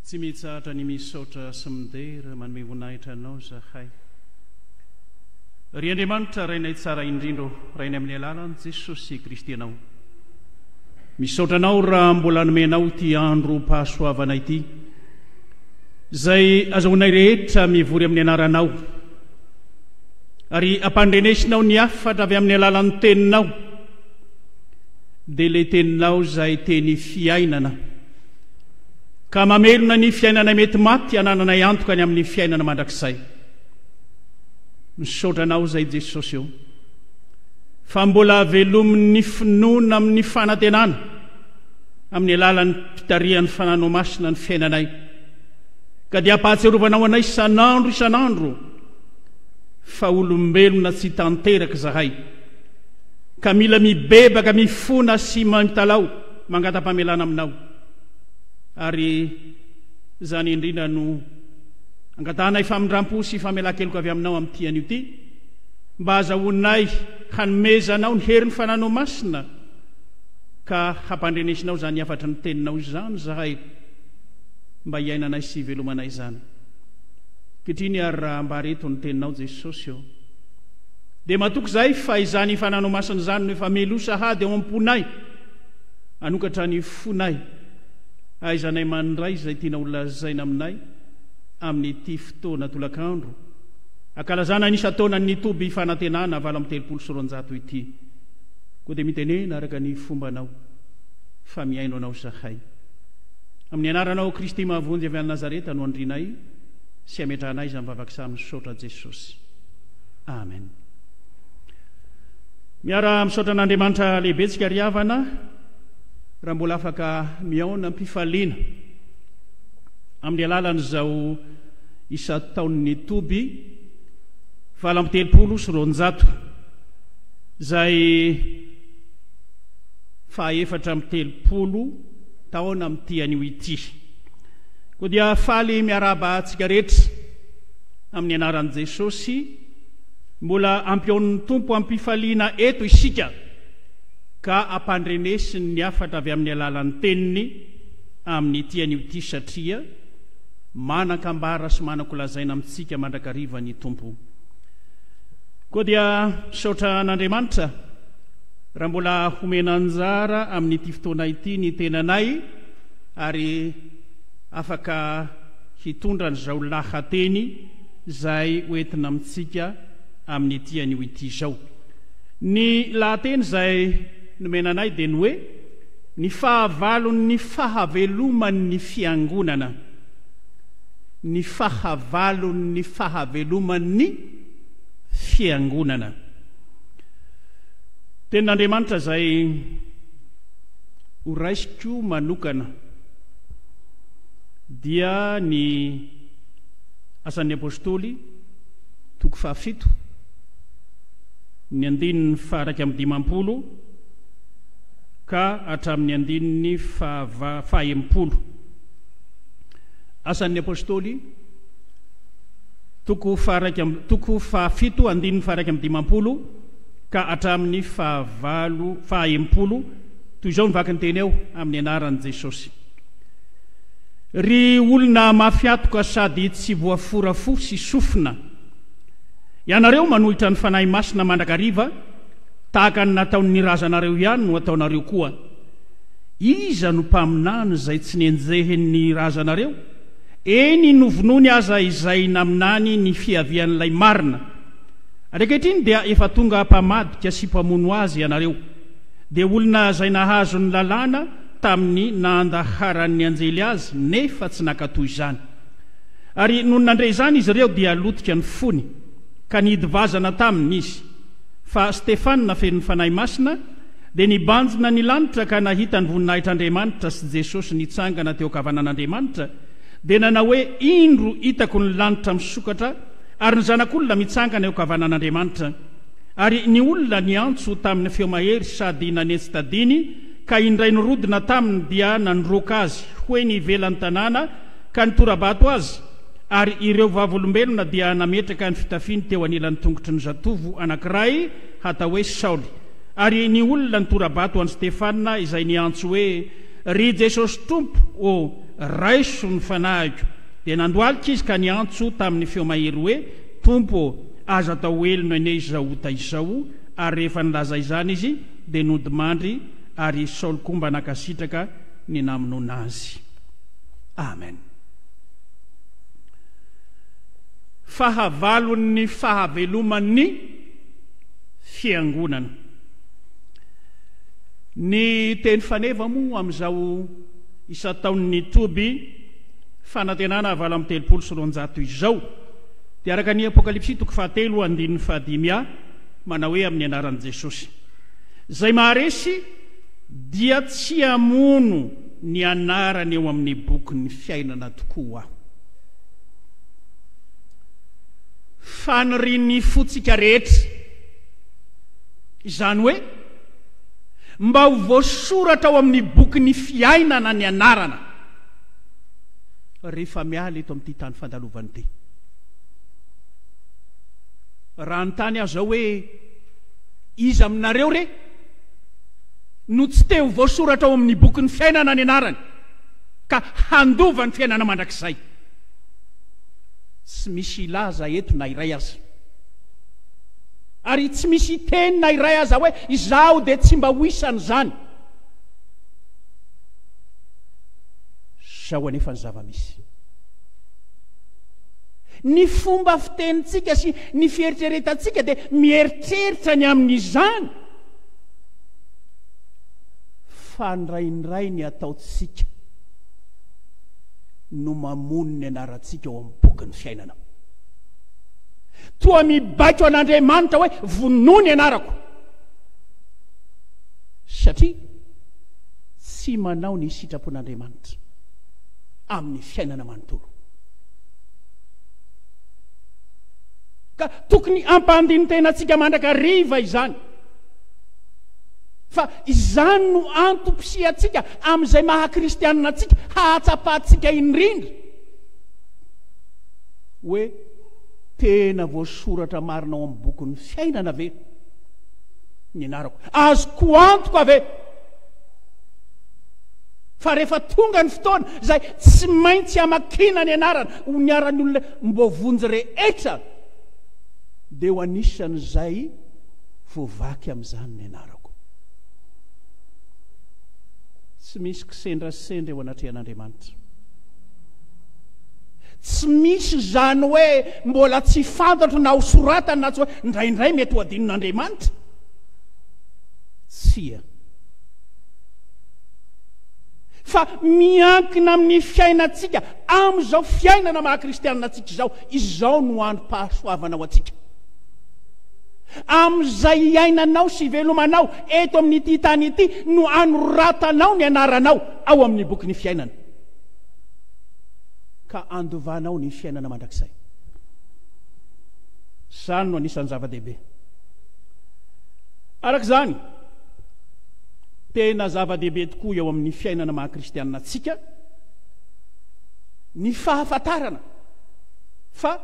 Tsy mitsahatra ny misaotra sy midera manome voninahitra Anao zahay. Ry Andriamanitra Rainay tsara indrindra ô, Rainay amin'ny alalan'i Jesosy Kristy Anao. Misaotra Anao raha mbola nomenao ity androm-pahasoavana ity, izay azahoanay rehetra mivory amin'ny anaranao, ary ampandrenesinao ny hafatra avy amin'ny alalan'ny teninao, dia ilay teninao izay teny fiainana. ka mamelona ny fiainana mety maty anananay antoka any amin'ny fiainana mandrakizay. Misaotra anao izay Jesosy o, fa mbola velomin'ny finoana amin'ny fanantenana amin'ny alalan'ny mpitarihan'ny fananao masina ny fiainanay, ka dia ampahatsiarovanao anay isan'andro isan'andro fa olombelona tsy tanteraka izahay, ka mila mibebaka mifona sy mitalaho mangatam-pamelana aminao. ary izany indrindra no angatahanay famindram-po sy famelan-keloka avy aminao amin'ity anio ity, mba hazahoanay hanomezanao ny herin'ny fananao masina, ka hampandrenesinao izany hafatry ny teninao izany izahay, mba hiainanay sy hivelomanay izany. Ankehitriny ary raha ambara eto ny teninao Jesosy ô, dia matoky izahay fa izany fananao masina izany no efa meloa sahady ao am-ponay, Hanokatra ny fonay, hahaizanay mandray izay tiana holazaina aminay amin'ity fotoana tolakandro hankalazana ny isan-taonan'ny Toby Fanantenana valo amby telopolo sy roanjato ity. Koa dia mitenena araka ny fombanao, fa mihaino anao izahay. Amin'ny anaranao Kristy mahavonjy avy any Nazareta no andrinay sy ametrahanay izany vavaka izany misaotra Jesosy. Amen. Miara misaotra an'Andriamanitra lehibentsika ry havana raha mbola afaka mihaona am-pifaliana amin'ny alalan'izao isan-taon'ny toby valo amby telopolo sy roanjato izay fahaefatra amby telopolo taona amin'ity anio ity. Koa dia faly miarahaba antsika rehetra amin'ny anaran'i Jesosy. Mbola ampihaonin'ny Tompo am-pifaliana eto isika ka ampandrenesiny ny hafatra avy amin'ny alalan'ny Teniny amin'ity anio ity satria manan-kambara sy manan-kolazaina amintsika mandrakariva ny Tompo. Koa dia misaotra an'Andriamanitra raha mbola homena anjara amin'ity fotoana ity ny tenanay ary afaka hitondra an'izao lahateny izay ho entina amintsika amin'ity anio ity izao. Ny lahateny izay nomena anay dia ny hoe, Ny fahavalon'ny fahaveloman'ny Fiangonana. Ny fahavalon'ny fahaveloman'ny Fiangonana. Tenin'Andriamanitra izay ho raisiko manokana dia ny. Asan'ny Apostoly, toko fahafito, ny andininy faha-iraika amby dimampolo ka hatramin'ny andininy fahava, faha-enimpolo. Asan'ny Apostoly, toko faha-iraika, toko fahafito, andininy faha-iraika amby dimampolo ka hatramin'ny fahavalo, faha-enimpolo, toy izao ny vaky ny teny eo, amin'ny anaran'i Jesosy. Ry olona mafy atoka sady tsy voafora fo sy sofina, ianareo manohitra ny Fanahy Masina mandrakariva, tahaka ny nataon'ny razanareo ihany no ataonareo koa. Iza no mpaminany izay tsy nenjehin'ny razanareo, eny novonoiny aza izay naminany ny fiavian'ilay marina? Ankehitriny dia efa tonga mpamadika sy mpamono azy ianareo, dia olona izay nahazo ny lalàna, tamin'ny nahandaharan'ny anjely azy nefa tsy nankatò izany. Ary nony nandre izany izy ireo dia lotika ny fony, ka nihidy vazana taminy izy. Fa Stefana, fenon'ny Fanahy Masina, dia nibanjina ny lanitra ka nahita ny voninahitr'Andriamanitra sy Jesosy nitsangana teo an-kavanan'Andriamanitra, dia nanao hoe, Indro hitako ny lanitra misokatra ary ny Zanak'olona mitsangana eo an-kavanan'Andriamanitra. Ary ny olona niantso tamin'ny feo mahery sady nanentsi-tadiny, Ka indray nirodona taminy dia nandroaka azy ho eny ivelan'ny tanàna ka nitora-bato azy, ary ireo vavolombelona dia nametraka ny fitafiny teo anilan'ny tongotry ny zatovo anankiray hatao hoe Saoly, ary ny olona nitora-bato an'i Stefana izay niantso hoe, Ry Jesosy Tompo ô, raiso ny fanahiko! Dia nandohalika izy ka niantso tamin'ny feo mahery hoe, Tompo ô, aza atao velona anie izao ota izao! Ary rehefa nilaza izany izy, dia nodimandry ary i Saoly koa mba nankasitraka ny namonoana azy. Amen. Fahavalon'ny fahaveloman'ny fiangonana. Ny teny faneva moa amin'izao isan-taon'ny toby fanantenana valo amby telopolo sy roanjato izao dia araka ny Apokalypsy toko fahatelo andininy fahadimy a, manao hoe amin'ny anaran'i Jesosy. Izay maharesy dia tsy hamono ny anarany eo amin'ny bokin'ny fiainana tokoa aho. Fanirian'ny fontsika rehetra izany hoe mba ho voasoratra ao amin'ny bokin'ny fiainana ny anarana rehefa miala eto amin'ity tany fandalovan'ity. raha hanontany azy aho hoe, Iza aminareo re no tsy te ho voasoratra ao amin'ny bokin'ny fiainana ny anarany ka handova ny fiainana mandrakizay? Tsy misy hilaza eto na iray aza. Ary tsy misy hiteny na iray aza hoe, Izaho dia tsy mba ho isan'izany. Izao anefa ny zava-misy. Ny fomba fitenintsika sy ny fieritreretantsika dia mieritreritra ny amin'izany fa indraindray ny ataontsika no mamono ny anarantsika ao amin'ny bokin'ny fiainana. Toa mibaiko an'Andriamanitra hoe vonoy ny anarako satria tsy manao ny sitrapon'Andriamanitra amin'ny fiainana manontolo. Ka tokony hampandini-tena antsika mandrakariva izany. Fa izany no antom-pisihantsika amin'izay maha-kristianina antsika, hahatsapantsika indrindra hoe tena voasoratra marina ao amin'ny bokin'ny fiainana ve ny anarako? Azoko antoka ve? Fa rehefa tonga ny fotoana izay tsy maintsy hamakiana ny anarana ho niharan'ny olona mboavonjy rehetra, dia ho anisan'izay voavaky amin'izany ny anarako. Tsy misy kisendrasendra eo anatrehan'Andriamanitra. Tsy misy izany hoe mbola tsy fantatro na ho soratany na tsy hoe indraindray mety ho adinon'Andriamanitra. Tsia. Fa miankina amin'ny fiainantsika amin'izao fiainana maha kristianina antsika izao, izao no androm-pahasoavana ho antsika. Amin'izay hiainanao sy hivelomanao eto amin'ity tany ity no anoratanao ny anaranao ao amin'ny boky ny fiainana. Ka andovanao ny fiainana mandrakizay. Izany no anisan'ny zava-dehibe. Araka izany, Tena zava-dehibe tokoa eo amin'ny fiainana maha-kristianina antsika ny fahafantarana fa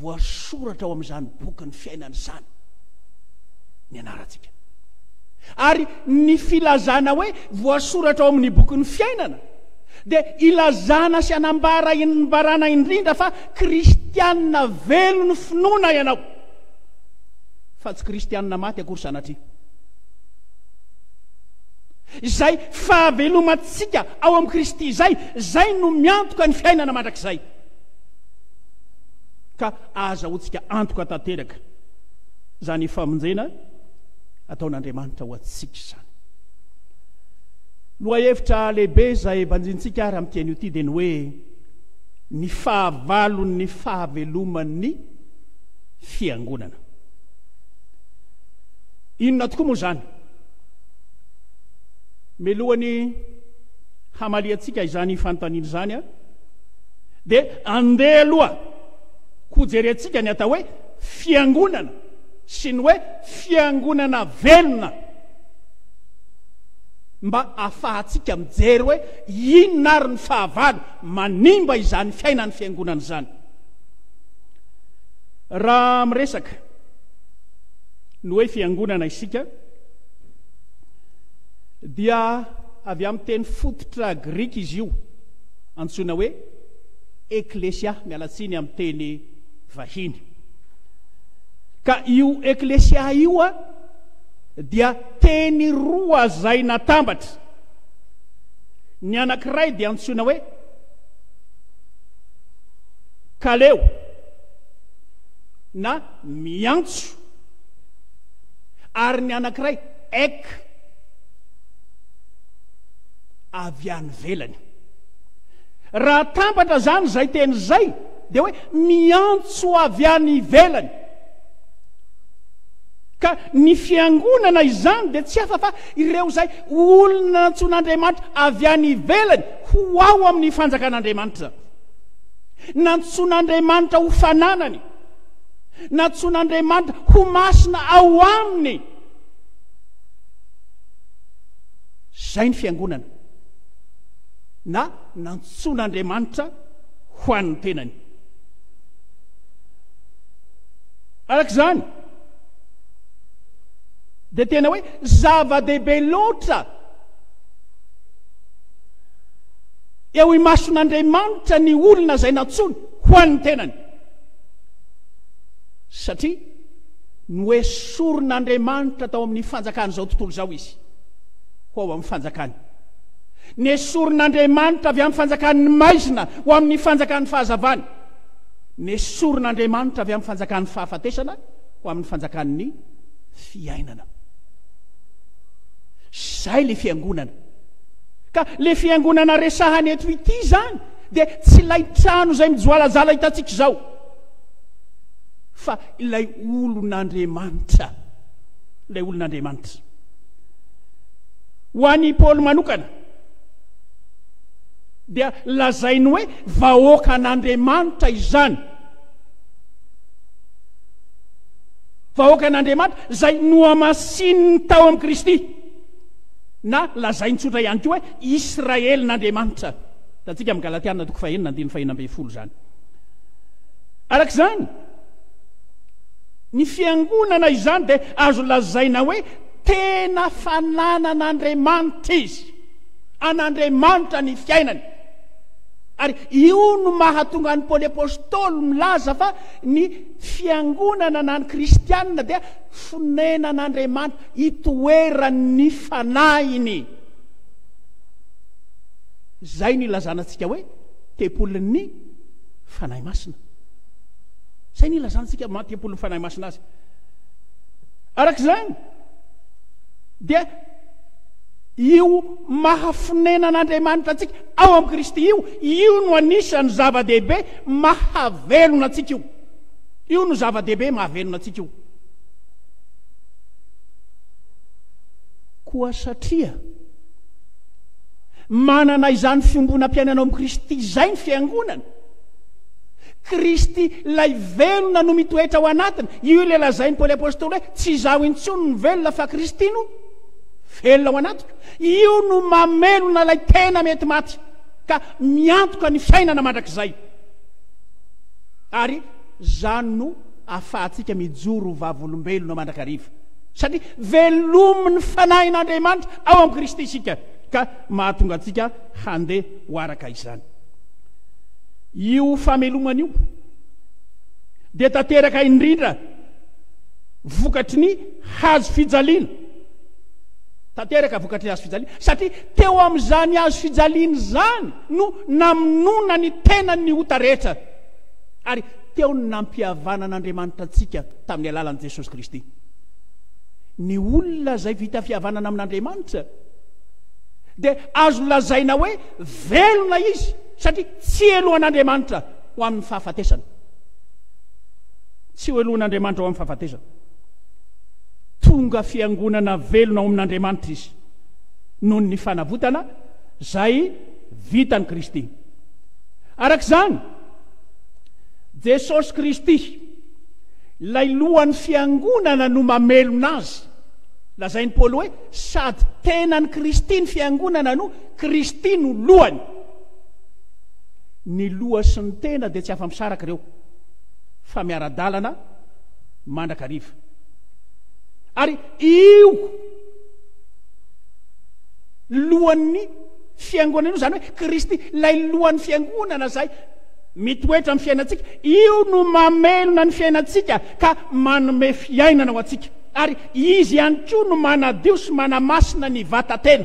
voasoratra ao amin'izany bokin'ny fiainana izany ny anarantsika. Ary ny filazana hoe voasoratra ao amin'ny bokin'ny fiainana dia ilazana sy anambara inbarana indrindra fa kristianina velon'ny finoana ianao fa tsy kristianina maty akory sanatria. izay fahavelomantsika ao amin'i Kristy izay, izay no miantoka ny fiainana mandrakizay. Ka ahazahoantsika antoka tanteraka izany famonjena ataon'Andriamanitra ho antsika izany. Lohahevitra lehibe izay banjintsika ary amin'ity anio ity dia ny hoe ny fahavalon'ny fahaveloman'ny fiangonana. Inona tokoa moa izany? Mialohan'ny hamaliantsika izany fanontaniana izany, dia andeha aloha hojerentsika ny atao hoe fiangonana sy ny hoe fiangonana velona mba afahantsika mijery hoe inona ary ny fahavalo manimba izany fiainan'ny fiangonana izany. Raha miresaka Ny hoe fiangonana isika dia avy amin'ny teny fototra grika izy io, antsoina hoe Eklesia, miala tsiny amin'ny teny vahiny. Ka io Eklesia io a, dia teny roa izay natambatra. Ny anankiray dia antsoina hoe kaleo. na miantso, ary ny anankiray ek, avy any ivelany. Raha atambatra izany izay teny izay, dia hoe miantso avy any ivelany. Ka ny fiangonana izany dia tsy hafa fa ireo izay olona nantsoin'Andriamanitra avy any ivelany ho ao amin'ny fanjakan'Andriamanitra. Nantsoin'Andriamanitra ho fananany. Nantsoin'Andriamanitra ho masina ao Aminy. Izay ny fiangonana. Na nantsoin'Andriamanitra ho an'ny tenany. Araka izany, dia tena hoe zava-dehibe loatra Eo imason'Andriamanitra ny olona izay nantsoiny ho an'ny tenany, satria noesorin'Andriamanitra tao amin'ny fanjakan'izao tontolo izao izy, ho ao amin'ny fanjakany. Nesorin'Andriamanitra avy amin'ny fanjakan'ny maizina ho amin'ny fanjakan'ny fahazavany. Nesorin'Andriamanitra avy amin'ny fanjakan'ny fahafatesana ho amin'ny fanjakan'ny fiainana. Izay ilay fiangonana. Ka le fiangonana resahany eto ity zany dia tsy ilay trano izay mijoalajala hitantsika izao, fa ilay olon'Andriamanitra, ilay olon'Andriamanitra. Ho an'i Paoly manokana, dia lazainy hoe vahoakan'Andriamanitra izany. Vahoakan'Andriamanitra izay nohamasininy tao amin'i Kristy. Na lazainy tsotra ihany koa hoe Israelin'Andriamanitra. Hitantsika amin'ny Galatiana toko fahenina andininy fahena ambin'ny folo izany. Araka izany, ny fiangonana izany dia azo lazaina hoe tena fananan'Andriamanitra izy. An'Andriamanitra ny fiainany. Ary io no mahatonga an'i Paoly Apôstôly milaza fa ny fiangonana na ny kristianina dia fonenan'Andriamanitra. itoeran' ny fanahiny, izay no ilazana antsika hoe tempolin' ny Fanahy Masina. Izay no ilazana antsika maha tempolin' ny Fanahy Masina azy. Araka izany, dia io maha fonenan' Andriamanitra antsika ao amin'i Kristy io, io no anisan'ny zava-dehibe mahavelona antsika io. Io no zava-dehibe mahavelona antsika io. Koa satria manana izany fiombonam-piainana ao amin'i Kristy izay ny fiangonana, Kristy ilay velona no mitoetra ao anatiny. Io ilay lazain'i Paoly Apôstôly hoe tsy izaho intsony no velona fa Kristy no velona ao anatiko. Io no mamelona ilay tena mety maty ka miantoka ny fiainana mandrakizay. Ary izany no ahafahantsika mijoro ho vavolombelona mandrakariva, satria velomin'ny Fanahin'Andriamanitra ao amin'i Kristy isika, ka mahatonga antsika handeha ho araka izany. Io famelomana io dia tanteraka indrindra vokatry ny hazo fijaliana, tanteraka vokatry ny hazo fijaliana, satria teo amin'izany hazo fijaliana izany no namonoana ny tenany ny ota rehetra. Ary teo ny nampihavanan'Andriamanitra antsika tamin'ny alalan'i Jesosy Kristy. Ny olona izay vita fihavanana amin'Andriamanitra dia azo lazaina hoe velona izy satria tsy helohan'Andriamanitra ho amin'ny fahafatesana. Tsy ho helohan'Andriamanitra ho amin'ny fahafatesana. Tonga fiangonana velona ao amin'Andriamanitra izy noho ny fanavotana izay vitan'i Kristy. Araka izany, Jesosy Kristy, ilay lohan'ny fiangonana no mamelona azy. Lazain'i Paoly hoe sady tenan'i Kristy ny fiangonana no Kristy no lohany. Ny loha sy ny tena dia tsy afa-misaraka ireo fa miara-dalana mandrakariva. Ary io lohan'ny Fiangonana io, izany hoe Kristy, ilay lohan'ny fiangonana izay mitoetra amin'ny fiainantsika, io no mamelona ny fiainantsika ka manome fiainana ho antsika. Ary izy ihany koa no manadio sy manamasina ny vatatena.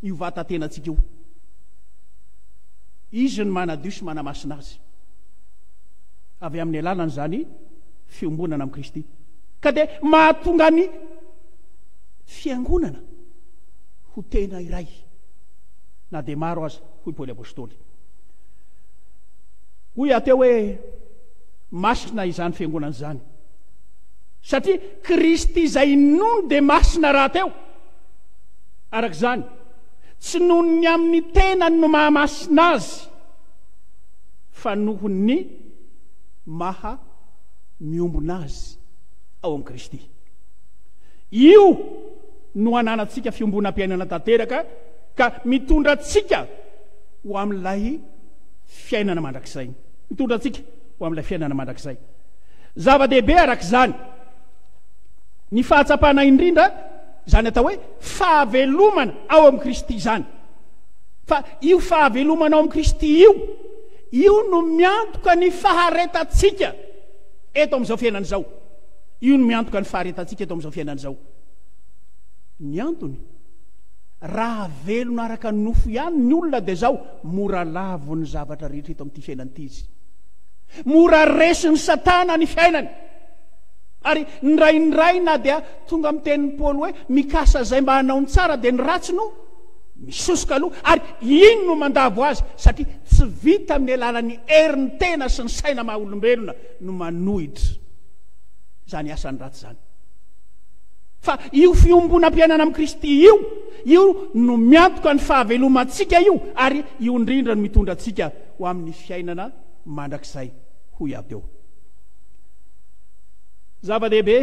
Io vatatenantsika io. Izy no manadio sy manamasina azy. Avy amin'ny alalan'izany fiombonana amin'i Kristy. Ka dia mahatonga ny fiangonana ho tena iray na dia maro aza, hoy Paoly Apostoly. Hoy aho teo hoe, masina izany fiangonana izany. Satria Kristy izay inoany dia masina rahateo. Araka izany, tsy noho ny amin'ny tenany no mahamasina azy, fa noho ny maha miombona azy ao amin'i Kristy. Io no ananantsika fiombonam-piainana tanteraka ka mitondra antsika ho amin'ilay fiainana mandrakizay. Mitondra antsika ho amin'ilay fiainana mandrakizay. Zava-dehibe araka izany ny fahatsapana indrindra izany atao hoe fahavelomana ao amin'i Kristy izany. Fa io fahavelomana ao amin'i Kristy io, io no miantoka ny faharetantsika eto amin'izao fiainana izao. Io no miantoka ny faharetantsika eto amin'izao fiainana izao. Ny antony, raha velona araka ny nofo ihany ny olona dia izao, mora lavo ny zavatra rehetra eto amin'ity fiainana ity izy. Mora resin'i Satana ny fiainany. Ary indraindray na dia tonga amin'ny tenin'i Paoly hoe mikasa izay mba hanao ny tsara dia ny ratsy no misosoka aloha ary iny no mandavo azy satria tsy vita amin'ny alalan'ny herin'ny tena sy ny saina maha olombelona no manohitra izany asany ratsy izany. Fa io fiombonam-piainana amin'i Kristy io, io no miantoka ny fahavelomantsika io, ary io indrindra no mitondra antsika ho amin'ny fiainana mandrakizay, hoy aho teo. Zava-dehibe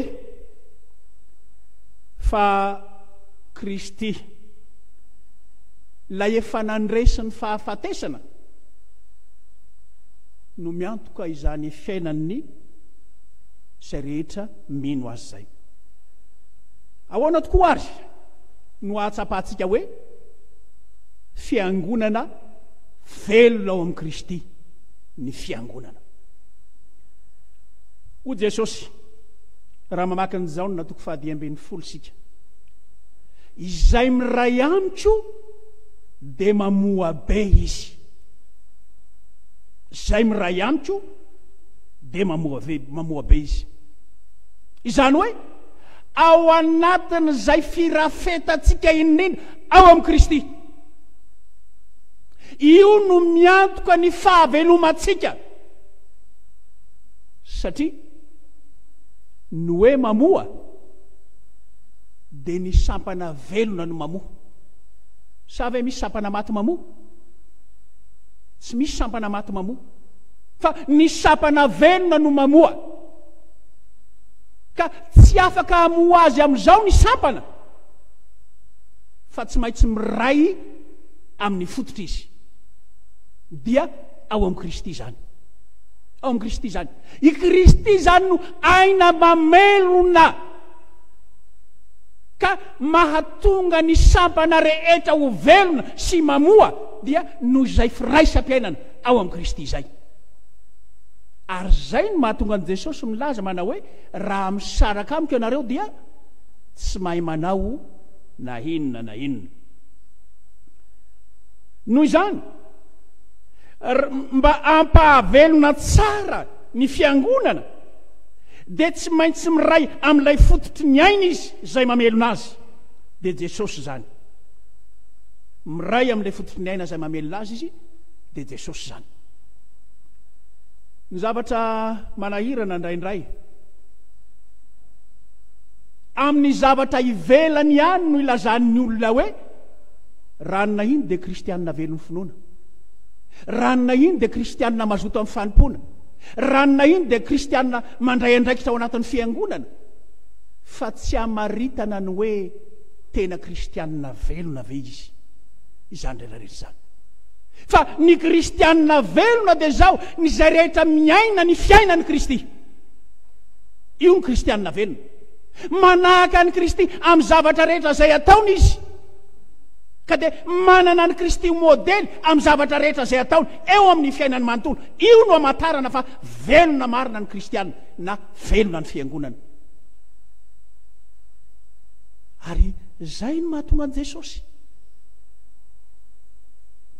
fa Kristy, ilay efa nandresy ny fahafatesana, no miantoka izany fiainan'ny izay rehetra mino azy izay. Ahoana tokoa ary no hahatsapantsika hoe fiangonana velona ao amin'i Kristy ny fiangonana? Ho Jesosy, raha mamaky ny Jaona toko fahadimy ambin'ny folo isika, izay miray amiko dia mamoa be izy. Izay miray amiko dia mamoave, mamoa be izy. Izany hoe, ao anatin'izay firafetantsika indrindra ao amin'i Kristy. Io no miantoka ny fahavelomantsika. Satria ny hoe mamoa dia ny sampana velona no mamoa. Sa ve misy sampana maty mamoa? Tsy misy sampana maty mamoa. Fa ny sampana velona no mamoa. Ka tsy afaka hamoa azy amin'izao ny sampana, fa tsy maintsy miray amin'ny fototra izy. Dia ao amin'i Kristy izany. Ao amin'i Kristy izany. I Kristy izany no aina mamelona. Ka mahatonga ny sampana rehetra ho velona sy mamoa dia noho izay firaisam-piainana. ao amin'i Kristy izay. Ary izay no mahatonga an'i Jesosy milaza manao hoe, Raha misaraka amiko ianareo dia tsy mahay manao na inona na inona. Noho izany, mba hampahavelona tsara ny fiangonana dia tsy maintsy miray amin'ilay fototry ny aina izy izay mamelona azy, dia Jesosy izany. Miray amin'ilay fototry ny aina izay mamelona azy izy, dia Jesosy izany. Ny zavatra manahirana indraindray, amin'ny zavatra ivelany ihany no ilazan'ny olona hoe ranona iny dia kristianina velon'ny finoana, ranona iny dia kristianina mazoto amin'ny fanompoana, ranona iny dia kristianina mandray andraikitra ao anatin'ny fiangonana, fa tsy amaritana ny hoe tena kristianina velona ve izy izany rehetra rehetra izany. Fa ny kristianina velona dia izao, ny izay rehetra miaina ny fiainan'i Kristy. Io ny kristianina velona. Manahaka an'i Kristy amin'ny zavatra rehetra izay ataony izy. Ka dia manana an'i Kristy ho modely amin'ny zavatra rehetra izay ataony eo amin'ny fiainany manontolo. Io no amantarana fa velona marina ny kristianina na velona ny fiangonana. Ary izay no mahatonga an'i Jesosy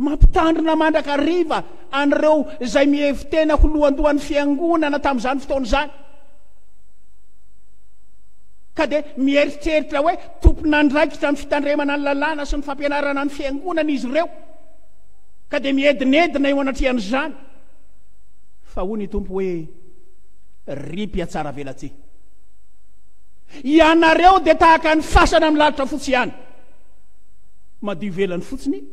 Mampitandrina mandrakariva an'ireo izay mihevi-tena ho lohandohan'ny fiangonana tamin'izany fotoana izany. Ka dia mieritreritra hoe tompon'andraikitra ny fitandremana ny lalàna sy ny fampianarana ny fiangonana izy ireo. Ka dia miedinedina eo anatrehan'izany. Fa hoy ny tompo hoe ry mpiatsara velatsihy. Ianareo dia tahaka ny fasana milalotra fotsy ihany. Madio ivelany fotsiny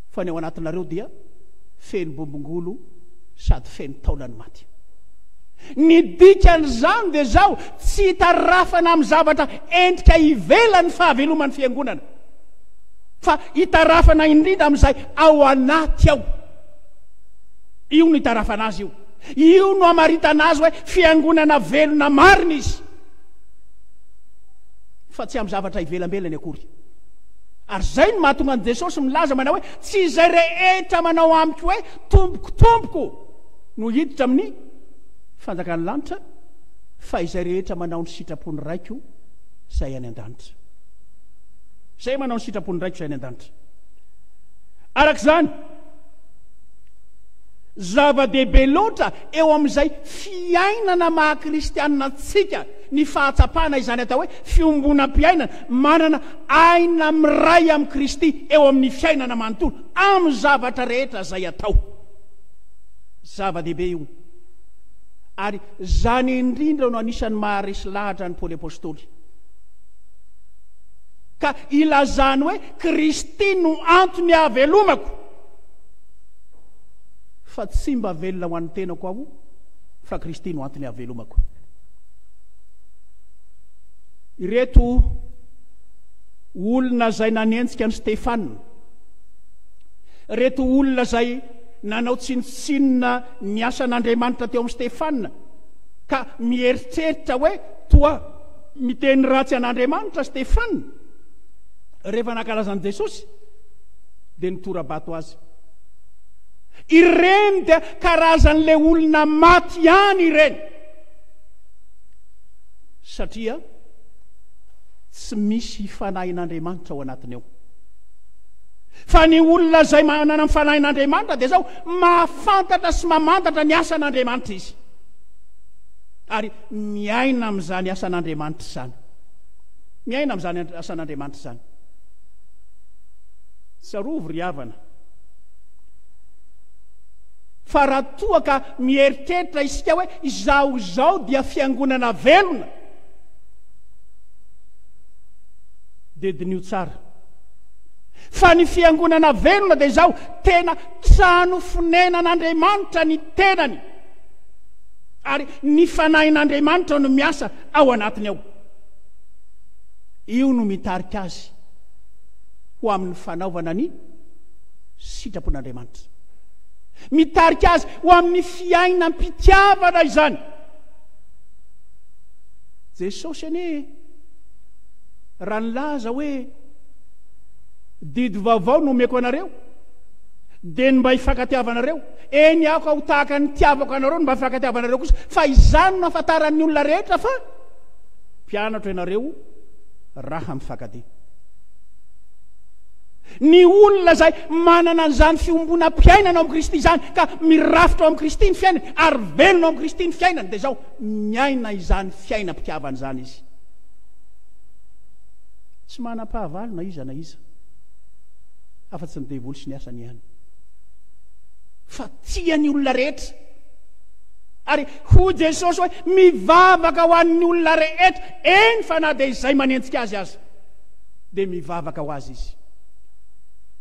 fa ny ao anatinareo dia feno bombongolo sady feno taolany maty. Ny dikan'izany dia izao, tsy itarafana amin'ny zavatra entika ivelany ny fahaveloman'ny fiangonana, fa itarafana indrindra amin'izay ao anaty ao. Io no itarafana azy io. Io no amaritana azy hoe fiangonana velona marina izy, fa tsy amin'ny zavatra ivelambelany akory. Ary izay no mahatonga an'i Jesosy milaza manao hoe tsy izay rehetra manao amiko hoe tompoko tompoko no hiditra amin'ny fanjakan'ny lanitra fa izay rehetra manao ny sitrapon'ny Raiko izay any an-danitra. Izay manao ny sitrapon'ny Raiko izay any an-danitra. Araka izany, zava-dehibe loatra eo amin'izay fiainana maha-kristianina antsika ny fahatsapana izany atao hoe fiombonam-piainana Manana aina miray amin'i Kristy eo amin'ny fiainana manontolo amin'ny zavatra rehetra izay atao. Zava-dehibe io, ary izany indrindra no anisan'ny maharesy lahatra an'i Paoly Apostoly. Ka ilazany hoe, Kristy no antony ahavelomako, fa tsy mba velona ho an'ny tenako aho, fa Kristy no antony ahavelomako. Ireto olona izay nanenjika an'i Stefana, ireto olona izay nanao tsinontsinona ny asan'Andriamanitra teo amin'i Stefana, ka mieritreritra hoe toa miteny ratsy an'Andriamanitra Stefana, rehefa nankalaza an'i Jesosy, dia nitora-bato azy. Ireny dia karazan'ilay olona maty ihany ireny. Satria tsy misy fanahin'Andriamanitra ao anatiny ao. Fa ny olona izay manana ny fanahin'Andriamanitra dia izao, mahafantatra sy mamantatra ny asan'Andriamanitra izy. Ary miaina amin'izany asan'Andriamanitra izany. Miaina amin'izany asan'Andriamanitra izany. Tsarovy ry havana. Fa raha toa ka mieritreritra isika hoe izaho izao dia fiangonana velona, dia diniho tsara fa ny fiangonana velona dia izao, tena trano fonenan'Andriamanitra ny tenany, ary ny Fanahin'Andriamanitra no miasa ao anatiny ao. Io no mitarika azy ho amin'ny fanaovana ny sitrapon'Andriamanitra. Mitarika azy ho amin'ny fiainam-pitiavana izany. Jesosy anie raha nilaza hoe didy vaovao no omeko anareo dia ny mba hifankatiavanareo. Eny aho ka ho tahaka ny tiavako anareo ny mba hifankatiavanareo kosa. Fa izany no afantaran'ny olona rehetra fa mpianatro ianareo raha mifankatia. Ny olona izay manana an'izany fiombonam-piainana ao amin'i Kristy izany, ka mirafitra ao amin'i Kristy ny fiainany, ary velona ao amin'i Kristy ny fiainany, dia izao, miaina izany fiainam-pitiavana izany izy. Tsy manam-pahavalo na iza na iza, afa-tsy ny devoly sy ny asany ihany. Fa tia ny olona rehetra. Ary hoy Jesosy hoe, mivavaka ho an'ny olona rehetra, eny fa na dia izay manenjika azy aza. dia mivavaka ho azy izy.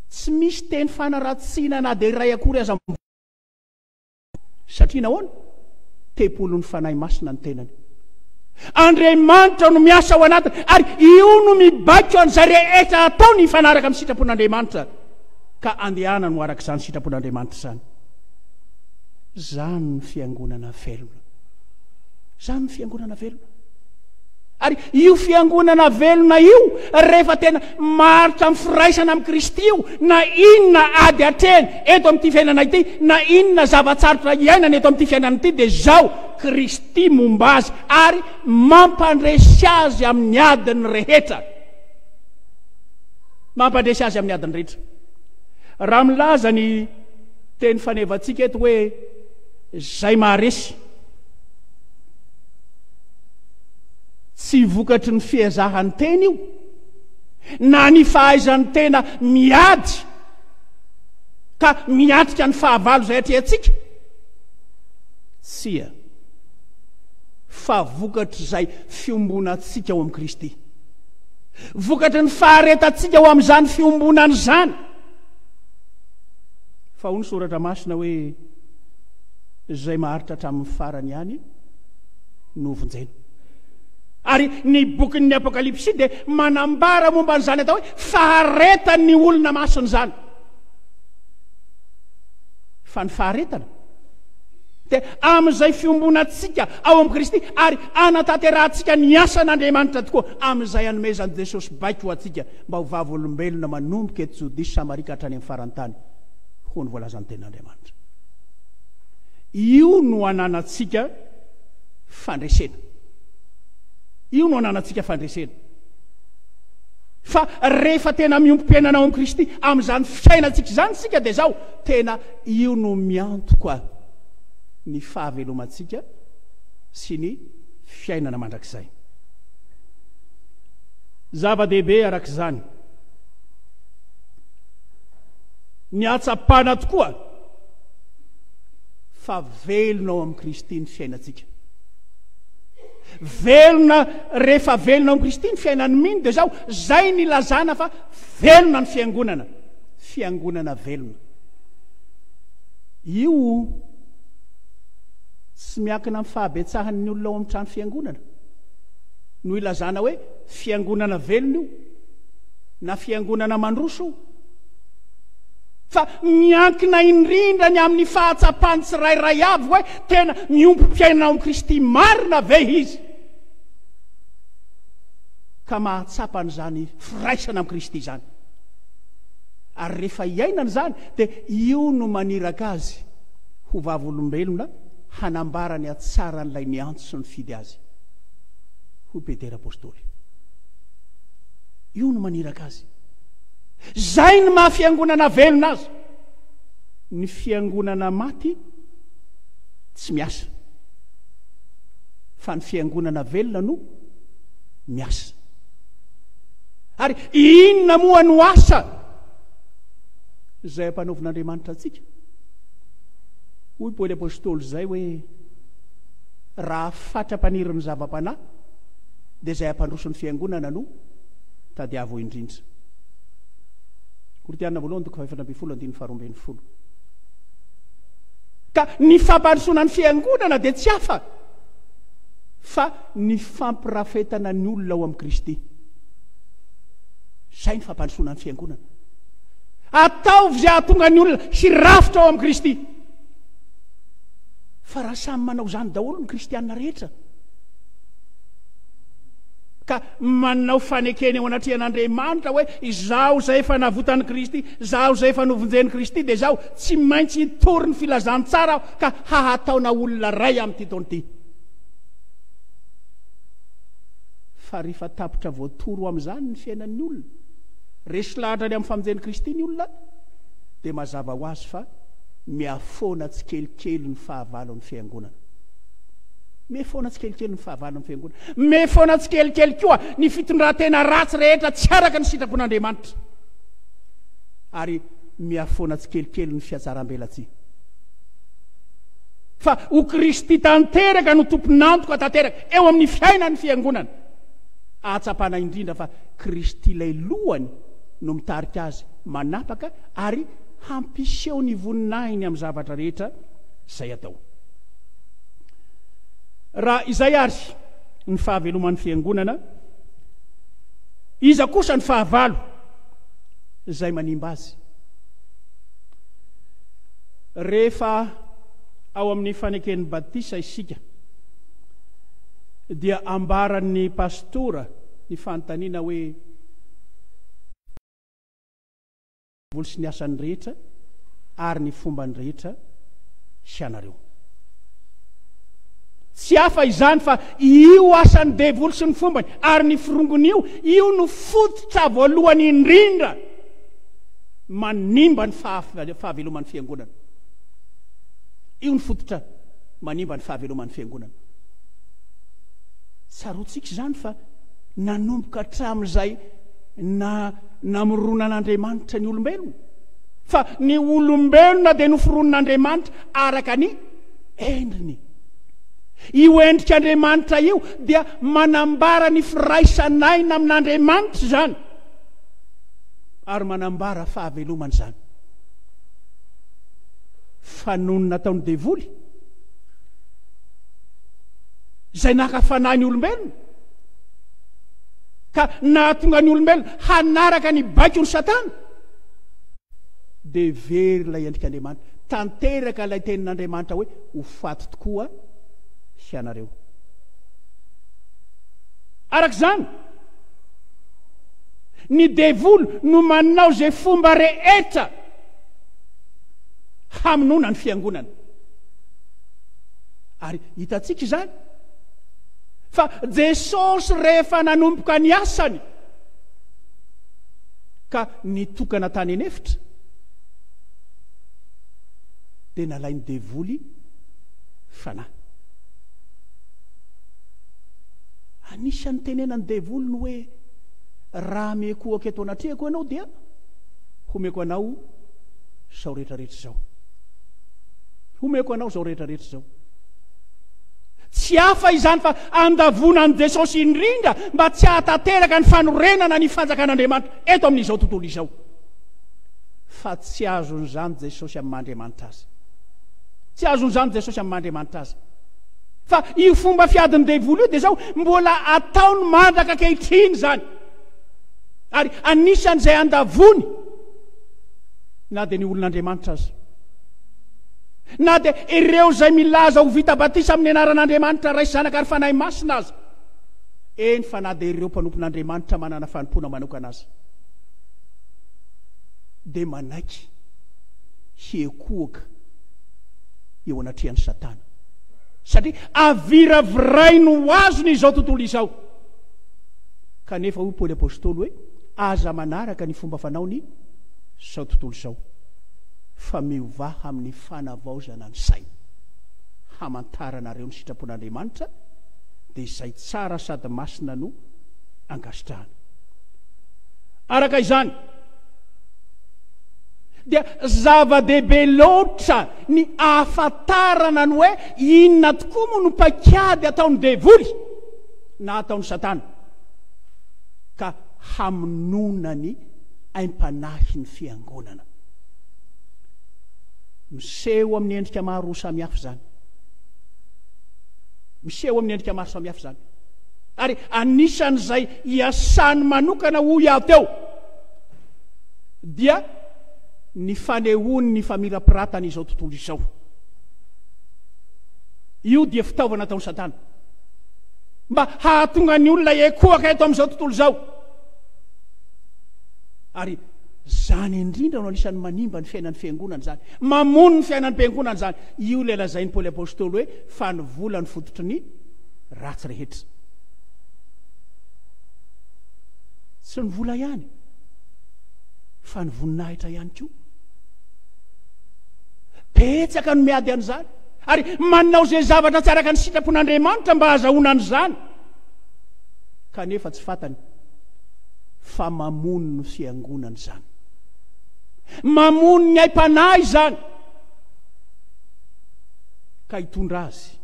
Tsy misy teny fanaratsiana na dia iray akory aza mivoaka azy. Satria nahoana? Tempolin'ny Fanahy Masina ny tenany. Andriamanitra no miasa ao anatiny ary io no mibaiko an'izay rehetra ataony hifanaraka amin'ny sitrapon'Andriamanitra ka andehanany ho araka izany sitrapon'Andriamanitra izany. Izany ny fiangonana velona. Izany ny fiangonana velona. Ary io fiangonana velona io, rehefa tena maharitra amin'ny firaisana amin'i Kristy io, na inona ady atrehiny eto amin'ity fiainana ity, na inona zava-tsarotra iainany eto amin'ity fiainana ity, dia izao, Kristy momba azy ary mampandresy azy amin'ny adiny rehetra. Mampandresy azy amin'ny adiny rehetra. Raha milaza ny teny fanevantsika eto hoe, izay maharesy, Tsy vokatry ny fiezahan-tena io, na ny fahaizan'ny tena miady ka miatrika ny fahavalo izay atrehantsika. Tsia, fa vokatr'izay fiombonantsika ao amin'i Kristy. Vokatry ny faharetantsika ho amin'izany fiombonana izany. Fa hoy ny Soratra Masina hoe, Izay maharitra hatramin'ny farany ihany, no hovonjena. Ary ny bokin'ny Apokalypsy dia manambara momba an'izany atao hoe faharetan'ny olona masina izany. Fa ny faharetana dia amin'izay fiombonantsika ao amin'i Kristy ary anatanterahantsika ny asan'Andriamanitra tokoa amin'izay anomezan'i Jesosy baiko ho antsika mba ho vavolombelona manomboka eto Jodia sy Samaria ka hatrany amin'ny faran'ny tany hoy ny voalazan'ny tenin'Andriamanitra. Io no ananantsika fandresena. Io no ananantsika fandresena. Fa rehefa tena miombom-piainana ao amin'i Kristy, amin'izany fiainantsika izany isika dia izao, tena io no miantoka ny fahavelomantsika sy ny fiainana mandrakizay. Zava-dehibe araka izany. Ny hatsapana tokoa fa velona ao amin'i Kristy ny fiainantsika. Velona rehefa velona ao amin'i Kristy ny fiainan'ny mino dia zao, zay ny ilazana fa velona ny fiangonana, fiangonana velona. Io tsy miankina amin'ny fahabetsahan'ny olona ao amin'ny trano fiangonana. No ilazana hoe fiangonana velona io na fiangonana mandroso io. Fa miankina indrindra ny amin'ny fahatsapan'ny tsirairay avy hoe tena miompy mpiaina ao amin'i Kristy marina ve izy, ka mahatsapa an'izany firaisana amin'i Kristy izany. Ary rehefa iainany izany, dia io no maniraka azy ho vavolombelona hanambara ny hatsaran'ilay niantso sy nifidy azy. Hoy Petera apostoly. Io no maniraka azy. Izay ny maha fiangonana velona azy. Ny fiangonana maty tsy miasa. Fa ny fiangonana velona no miasa. Ary inona moa no asa izay ampanaovin'Andriamanitra antsika? Hoy Paoly Apôstôly izay hoe raha fatra-panirin'ny zava-panahy dia izay hampandroso ny fiangonana no tadiavo indrindra. Korintiana voalohany toko fahefatra ambin'ny folo andininy faharoa ambin'ny folo. Ka ny fampandrosoana ny fiangonana dia tsy hafa fa ny fampirafetana ny olona ao amin'i Kristy. Izay ny fampandrosoana ny fiangonana. Ataovy izay hahatonga ny olona hirafitra ao amin'i Kristy. Fa raha samy manao izany daholo ny kristianina rehetra, ka manao fanekena eo anatrehan'Andriamanitra hoe izaho izay efa navotan'i Kristy, izaho izay efa novonjen'i Kristy, dia izaho tsy maintsy hitory ny filazantsara aho ka hahataona olona iray amin'ity taona ity. Fa rehefa tapitra voatory ho amin'izany ny fiainan'ny olona, resy lahatra any amin'ny famonjen'i Kristy ny olona, dia mazava ho azy fa mihafoana tsikelikely ny fahavalon'ny Fiangonana. Mihafoana tsikelikely ny fahavalon'ny Fiangonana. Mimehy foana tsikelikely koa ny fitondran-tena ratsy rehetra tsy araka ny sitrapon'Andriamanitra, ary mihafoana tsikelikely ny fihatsarambelatsihy. Fa ho Kristy tanteraka no tompon'antoka tanteraka eo amin'ny fiainan'ny Fiangonana. Ahatsapana indrindra fa Kristy ilay lohany no mitarika azy manapaka ary hampiseho ny voninahiny amin'ny zavatra rehetra izay atao. Raha izay ary ny fahaveloman'ny Fiangonana, iza kosa ny fahavalo izay manimba azy? Rehefa ao amin'ny faneken'ny batisa isika, dia ambaran'ny pastora ny fanontaniana hoe, Mboly sy ny asany rehetra ary ny fombany rehetra hianareo. Tsy hafa izany fa io asan'ny devoly sy ny fombany ary ny firongony io, io no fototra voalohany indrindra manimba ny fahaveloman'ny fiangonana. Io ny fototra manimba ny fahaveloman'ny fiangonana. Tsaroantsika izany fa nanomboka hatramin'izay na namoronan'Andriamanitra ny olombelona, fa ny olombelona dia noforonin'Andriamanitra araka ny endriny. Io endrik'Andriamanitra io dia manambara ny firaisan'aina amin'Andriamanitra izany, ary manambara fahavelomana izany. Fa noho ny nataon'ny devoly, izay naka fanahy ny olombelona, ka nahatonga ny olombelona hanaraka ny baikon'i Satana, dia very ilay endrik'Andriamanitra. Tanteraka ilay tenin'Andriamanitra hoe, Ho faty tokoa hianareo. Araka izany, ny devoly no manao izay fomba rehetra hamonoana ny fiangonana. Ary hitantsika izany. Fa Jesosy rehefa nanomboka ny asany ka nitokana tany an'efitra dia nalain'ny devoly fanahy. Anisan'ny tenenan'ny devoly ny hoe raha mekohaka eto anatrehako ianao dia homeko anao izao rehetra rehetra izao. Homeko anao izao rehetra rehetra izao. Tsy hafa izany fa andavoana an'i Jesosy indrindra mba tsy hahatanteraka ny fanorenana ny fanjakan'Andriamanitra eto amin'izao tontolo izao. Fa tsy azon'izany Jesosy amin'ny maha-Andriamanitra Azy. Tsy azon'izany Jesosy amin'ny maha-Andriamanitra Azy. Fa io fomba fiadin'ny devoly io dia izao mbola ataony mandraka ankehitriny izany. Ary anisan'izay andavoany na dia ny olon'Andriamanitra aza. Na dia ireo izay milaza ho vita batisa amin'ny anaran'Andriamanitra Ray, Zanaka ary Fanahy Masina aza, eny fa na dia ireo mpanompon'Andriamanitra manana fanompoana manokana aza, dia manaiky hihekohoka eo anatrehan'i Satana, satria aviravirainy ho azony izao tontolo izao. Kanefa hoy Paoly Apostoly hoe, Aza manaraka ny fomba fanaon'izao tontolo izao. fa miovaha amin'ny fanavaozana ny saina. Hamantaranareo ny sitrapon'Andriamanitra, dia izay tsara sady masina no angasitrahana. Araka izany, dia zava-dehibe loatra ny ahafantarana ny hoe inona tokoa moa no paikady ataon'ny devoly na ataon'i Satana ka hamonoana ny aim-panahin'ny fiangonana. Miseho amin'ny endrika maro samihafa izany. Miseho amin'ny endrika maro samihafa izany. Ary anisan'izay iasany manokana hoy aho teo dia ny fanehoan'ny famirapiratana izao tontolo izao. Io dia fitaovana ataon'i Satana. Mba hahatonga ny olona ekoaka eto amin'izao tontolo izao. Ary Izany indrindra no anisan'ny manimba ny fiainan'ny Fiangonana izany. Mamono ny fiainan'ny Mpiangonana izany. Io ilay lazain'i Paoly Apostoly hoe fa ny vola no fototry ny ratsy rehetra. Tsy ny vola ihany fa ny voninahitra ihany koa. Betsaka no miady an'izany ary manao izay zavatra tsy araka ny sitrapon'Andriamanitra mba hahazahoana an'izany kanefa tsy fantany. fa mamono ny fiangonana izany. Mamono ny aim-panahy izany, ka hitondra azy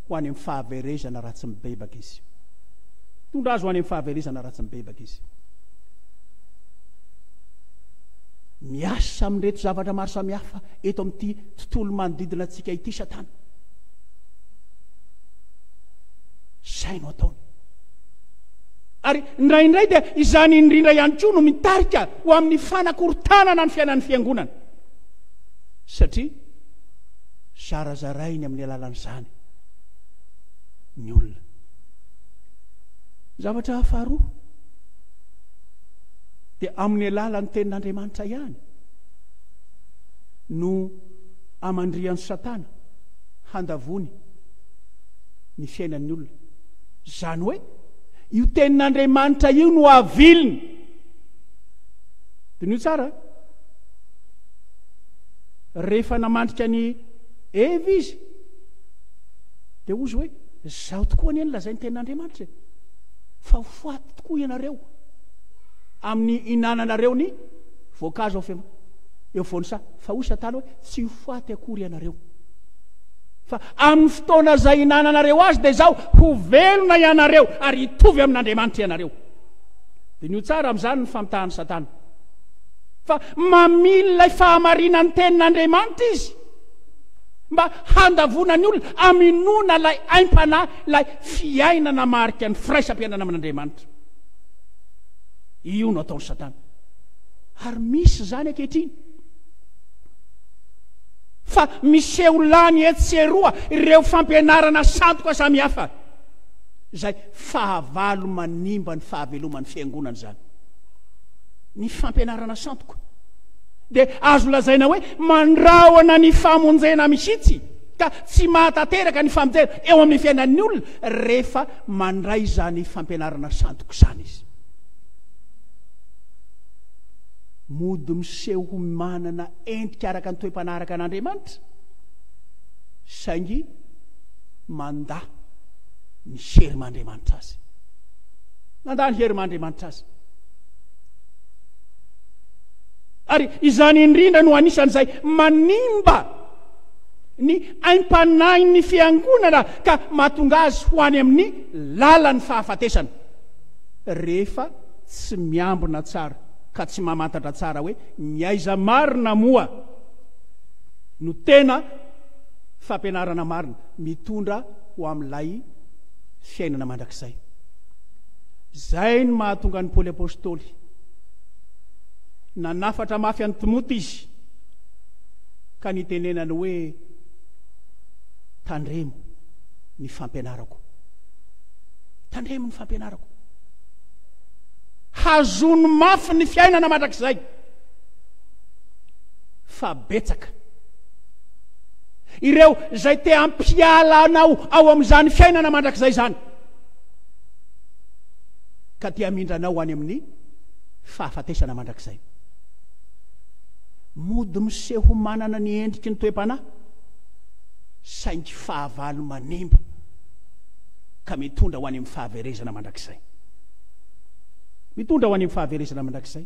ho any amin'ny fahaverezana raha tsy mibebaka izy. Hitondra azy ho any amin'ny fahaverezana raha tsy mibebaka izy. Miasa amin'ireto zavatra maro samihafa eto amin'ity tontolo manodidina antsika ity Satana. Izay no ataony. Ary indraindray dia izany indrindra ihany koa no mitarika ho amin'ny fanakorontanana ny fiainan'ny fiangonana. Satria zarazarainy amin'ny alalan'izany ny olona. Zavatra faharoa dia amin'ny alalan'ny tenin'Andriamanitra ihany no amandrihan'i Satana handavony ny fiainan'ny olona. Izany hoe Io tenin'Andriamanitra io no aviliny. Diniho tsara. Rehefa namandrika ny Eva izy, dia hozy hoe, zaho tokoa anie nilazain'ny tenin'Andriamanitra e. Fa ho faty tokoa ianareo amin'ny inananareo ny voankazo ao fem- eo voan'ny saha. Fa hoy Satana hoe, tsy ho faty akory ianareo. Fa amin'ny fotoana izay hinananareo azy, dia izao, ho velona ianareo ary hitovy amin'Andriamanitra ianareo. Diniho tsara amin'izany ny famitahan'i Satana. Fa mamily ilay fahamarinan'ny tenin'Andriamanitra izy mba handavoana ny olona aminoana ilay aim-panahy, ilay fiainana marika ny firaisam-piainana amin'Andriamanitra. Io no ataon'i Satana. Ary misy izany ankehitriny. Fa miseho lany etsy sy eroa ireo fampianarana sandoka samihafa, izay fahavalo manimba ny fahaveloman'ny Fiangonana izany. Ny fampianarana sandoka dia azo lazaina hoe mandrahona ny famonjena mihitsy, ka tsy mahatanteraka ny famonjena eo amin'ny fiainan'ny olona rehefa mandray izany fampianarana sandoka izany izy. Mody miseho ho manana endrika araka ny toe-panahy araka an' Andriamanitra, saingy mandà ny herim' Andriamanitra azy. Mandà ny herim' Andriamanitra azy. Ary izany indrindra no anisan'izay manimba ny aim-panahin'ny fiangonana ka mahatonga azy ho any amin'ny lalan'ny fahafatesana, rehefa tsy miambina tsara ka tsy mamantatra tsara hoe Ny aiza marina moa no tena fampianarana marina mitondra ho amin'ilay fiainana mandrakizay? Izay no mahatonga an'i Paoly Apostoly nanafatra mafy an'i Timoty izy ka nitenenany hoe, Tandremo ny fampianarako. Tandremo ny fampianarako. Hazony mafy ny fiainana mandrakizay fa betsaka ireo izay te hampiala anao ao amin'izany fiainana mandrakizay izany ka te hamindra anao any amin'ny fahafatesana mandrakizay. Mody miseho manana ny endriky ny toe-panahy saingy fahavalo manimba ka mitondra ho any amin'ny fahaverezana mandrakizay. Mitondra ho any amin'ny fahaverezana mandrakizay.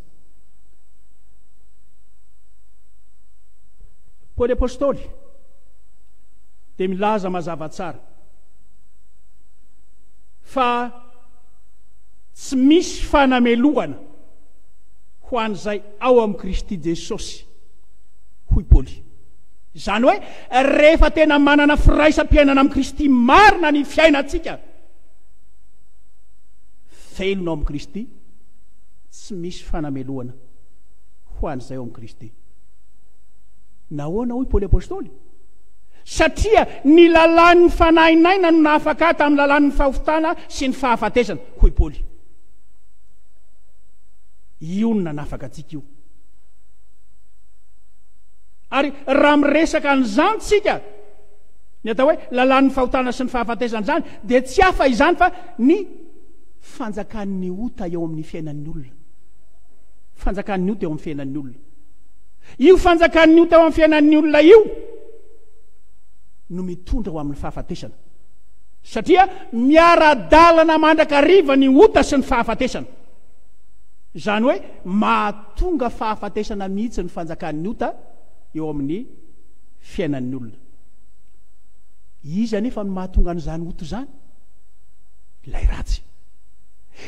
Paoly Apostoly dia milaza mazava tsara fa tsy misy fanamelohana ho an'izay ao amin'i Kristy Jesosy, hoy Paoly. Izany hoe rehefa tena manana firaisam-piainana amin'i Kristy marina ny fiainantsika, velona ao amin'i Kristy, tsy misy fanamelohana ho an'izay ao amin'i Kristy. Nahoana hoy Paoly Apôstôly? Satria ny lalàn'ny fanahin'aina no nahafaka ahy tamin'ny lalàn'ny fahotana sy ny fahafatesana, hoy Paoly. Io no nanafaka antsika io. Ary raha miresaka an'izany tsika, Ny atao hoe lalàn'ny fahotana sy ny fahafatesana-izany dia tsy hafa izany fa ny fanjakan'ny ota eo amin'ny fiainan'ny olona. Fanjakan'ny ota eo amin'ny fiainan'ny olona. Io fanjakan'ny ota eo amin'ny fiainan'ny olona io no mitondra ho amin'ny fahafatesana. Satria miara-dalana mandrakariva ny ota sy ny fahafatesana. Izany hoe mahatonga fahafatesana mihitsy ny fanjakan'ny ota eo amin'ny fiainan'ny olona. Iza anefa no mahatonga an'izany ota izany? Ilay ratsy.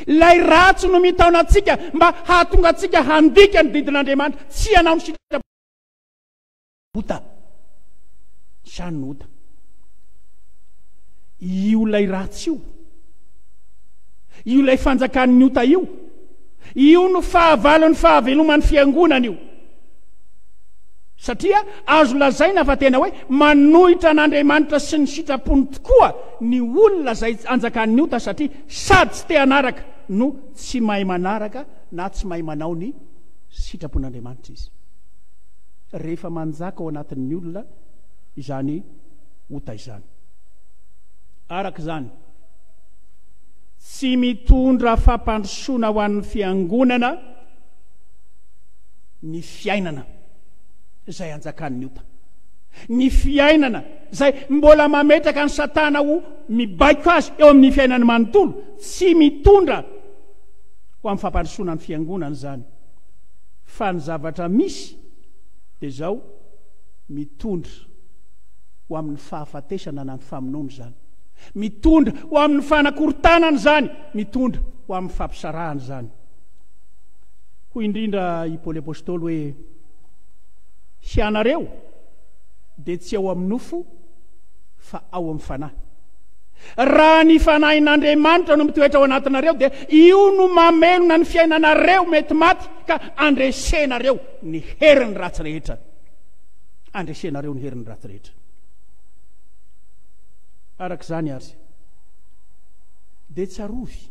Ilay ratsy no mitaona antsika mba hahatonga antsika handika ny didin'Andriamanitra, tsy hanao ny sitrapony. Ota. Isany no ota. Io ilay ratsy io. Io ilay fanjakan'ny ota io. Io no fahavalon'ny fahaveloman'ny fiangonana io. Satria azo lazaina fa tena hoe manohitra an'Andriamanitra sy ny sitrapony tokoa ny olona izay anjakan'ny ota satria sady tsy te hanaraka no tsy mahay manaraka na tsy mahay manao ny sitrapon'Andriamanitra izy. Rehefa manjaka ao anatin'ny olona izany ota izany, araka izany, tsy mitondra fampandrosoana ho an'ny fiangonana, Ny fiainana izay anjakan'ny ota. Ny fiainana izay mbola mametraka an'i Satana ho mibaiko azy eo amin'ny fiainany manontolo. Tsy mitondra ho amin'ny fampandrosoana ny Fiangonana izany, fa ny zavatra misy dia izao, mitondra ho amin'ny fahafatesana na ny famonoana izany. Mitondra ho amin'ny fanakorontanana izany, mitondra ho amin'ny fampisarahana izany. Hoy indrindra i Paoly Apostoly hoe, Hianareo dia tsy ao amin'ny nofo fa ao amin'ny Fanahy. Raha ny Fanahin'Andriamanitra no mitoetra ao anatinareo dia io no mamelona ny fiainanareo mety maty ka andresenareo ny herin'ny ratsy rehetra. Andresenareo ny herin'ny ratsy rehetra. Araka izany ary dia tsarovy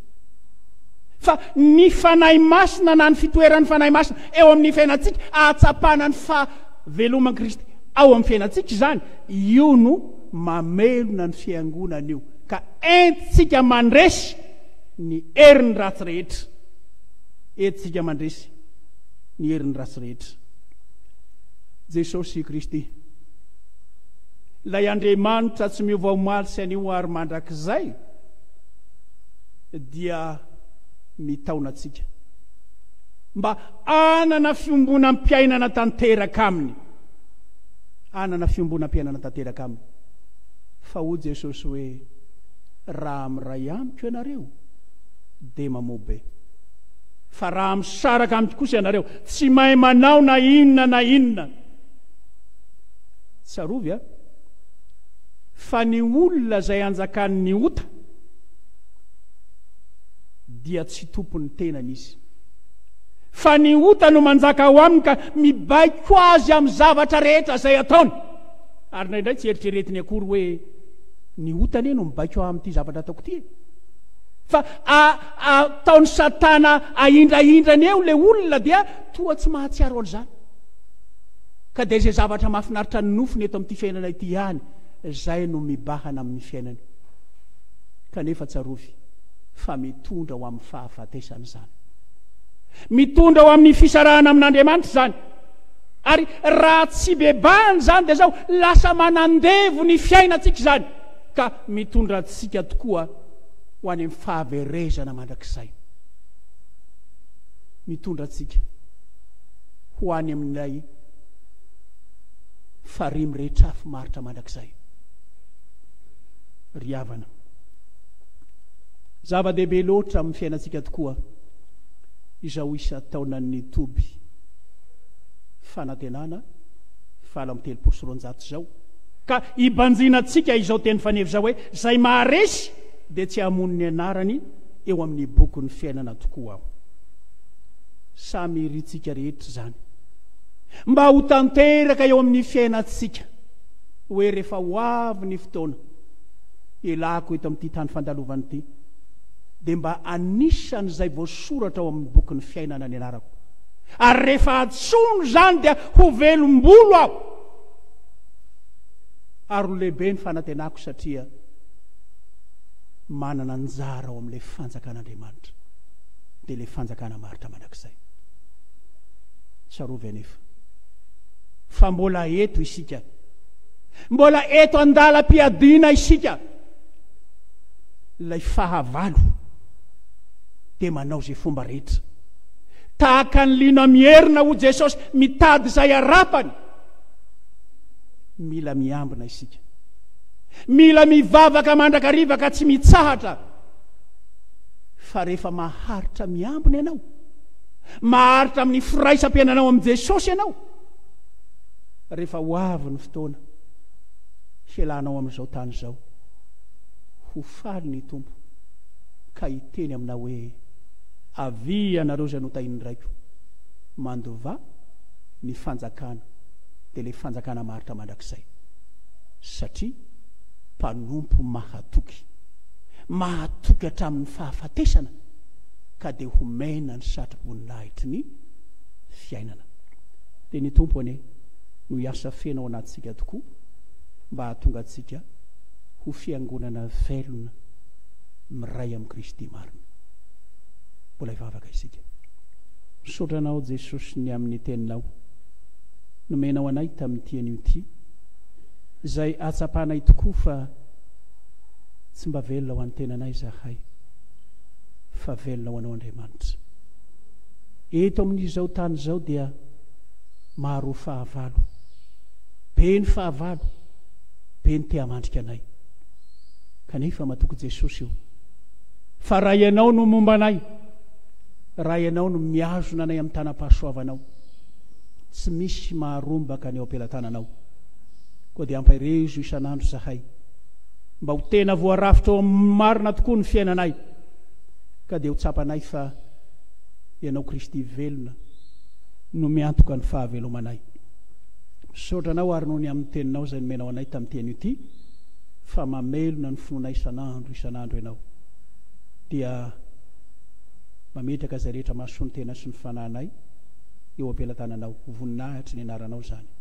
Fa ny Fanahy Masina na ny fitoeran'ny Fanahy Masina eo amin'ny fiainantsika, ahatsapana ny fahaveloman'i Kristy ao amin'ny fiainantsika izany, io no mamelona ny fiangonana io, ka entintsika mandresy ny herin'ny ratsy rehetra. Entintsika mandresy ny herin'ny ratsy rehetra. Jesosy Kristy, ilay Andriamanitra tsy miova omaly sy anio ary mandrakizay, dia mitaona antsika mba hanana fiombonam-piainana tanteraka Aminy. Hanana fiombonam-piainana tanteraka Aminy. Fa hoy Jesosy hoe, Raha miray Amiko ianareo, dia mamobe. Fa raha misaraka Amiko kosa ianareo, tsy mahay manao na inona na inona. Tsarovy a! Fa ny olona izay anjakan'ny ota, dia tsy tompon'ny tenany izy. Fa ny ota no manjaka ao aminy ka mibaiko azy amin'ny zavatra rehetra izay ataony. Ary indraindray tsy eritreretiny akory hoe ny ota anie no mibaiko aho amin'ity zavatra ataoko ity. Fa ataon'i Satana ahindrahindrany eo ilay olona dia toa tsy mahatsiaro an'izany. Ka dia izay zavatra mahafinaritra ny nofony eto amin'ity fiainana ity ihany izay no mibahana amin'ny fiainany. kanefa tsarovy fa mitondra ho amin'ny fahafatesana izany. Mitondra ho amin'ny fisarahana amin'Andriamanitra izany. Ary raha tsy bebahana izany dia zao lasa manandevo ny fiainantsika izany ka mitondra antsika tokoa ho any amin'ny fahaverezana mandrakizay. Mitondra antsika ho any amin'ilay farihy miretrafy maritra mandrakizay. ry havana. Zava-dehibe loatra amin'ny fiainantsika tokoa izao isan-taonan'ny toby fanantenana valo amby telopolo sy roanjato izao, ka ibanjinantsika izao teny faneva izao hoe, Izay maharesy dia tsy hamono ny anarany eo amin'ny bokin'ny fiainana tokoa aho. Samy irintsika rehetra izany mba ho tanteraka eo amin'ny fiainantsika. hoe rehefa ho avy ny fotoana hialako eto amin'ity tany fandalovana ity, dia mba anisan'izay voasoratra ao amin'ny bokin'ny fiainana ny anarako. Ary rehefa antsoina izany dia ho velom-bolo aho. Ary ho lehibe ny fanantenako satria manana anjara ao amin'ilay fanjakan'Andriamanitra, dia ilay fanjakana maharitra mandrakizay. Tsarovy anefa, fa mbola eto isika. Mbola eto an-dalam-piadiana isika. Ilay fahavalo dia manao izay fomba rehetra. Tahaka ny liona mierona ho Jesosy mitady izay harapany. Mila miambina isika. Mila mivavaka mandrakariva ka tsy mitsahatra. Fa rehefa maharitra miambina ianao, Maharitra amin'ny firaisam-piainanao amin'i Jesosy ianao rehefa ho avy ny fotoana hialanao amin'izao tany izao. Ho faly ny Tompo ka hiteny aminao hoe, Avia ianareo izay notahin'ny Raiko, mandova ny fanjakana, dia ilay fanjakana maharitra mandrakizay. Satria mpanompo mahatoky, mahatoky hatramin'ny fahafatesana. ka dia ho mena ny satroboninahitry ny fiainana. Dia ny Tompo anie no hiasa feno ao anatintsika tokoa mba hahatonga antsika ho fiangonana velona miray amin'i Kristy marina. Mbola hivavaka isika. Misaotra Anao Jesosy ny amin'ny Teninao nomenao anay tamin'ity anio ity, izay ahatsapanay tokoa fa tsy mba velona ho an'ny tenanay izahay. fa velona ho anao Andriamanitra. Eto amin'izao tany izao dia maro fahavalo, be ny fahavalo, be ny te hamandrika anay. Kanefa matoky Jesosy o, fa raha ianao no momba anay, raha ianao no miazona anay amin'ny tanam-pahasoavanao, tsy misy maharombaka ny ao am-pelatananao. Koa dia ampaherezo isan'andro izahay. Mba ho tena voarafitra ao amin'ny marina tokoa ny fiainanay, ka dia ho tsapanay fa Ianao Kristy velona no miantoka ny fahavelomanay. Misaotra Anao àry noho ny amin'ny Teninao izay nomenao anay tamin'ity anio ity, fa mamelona ny finoanay isan'andro isan'andro Ianao, dia mametraka izay rehetra mahasoa ny tena sy ny fanahinay eo am-pelatananao. Ho voninahitry ny Anaranao izany.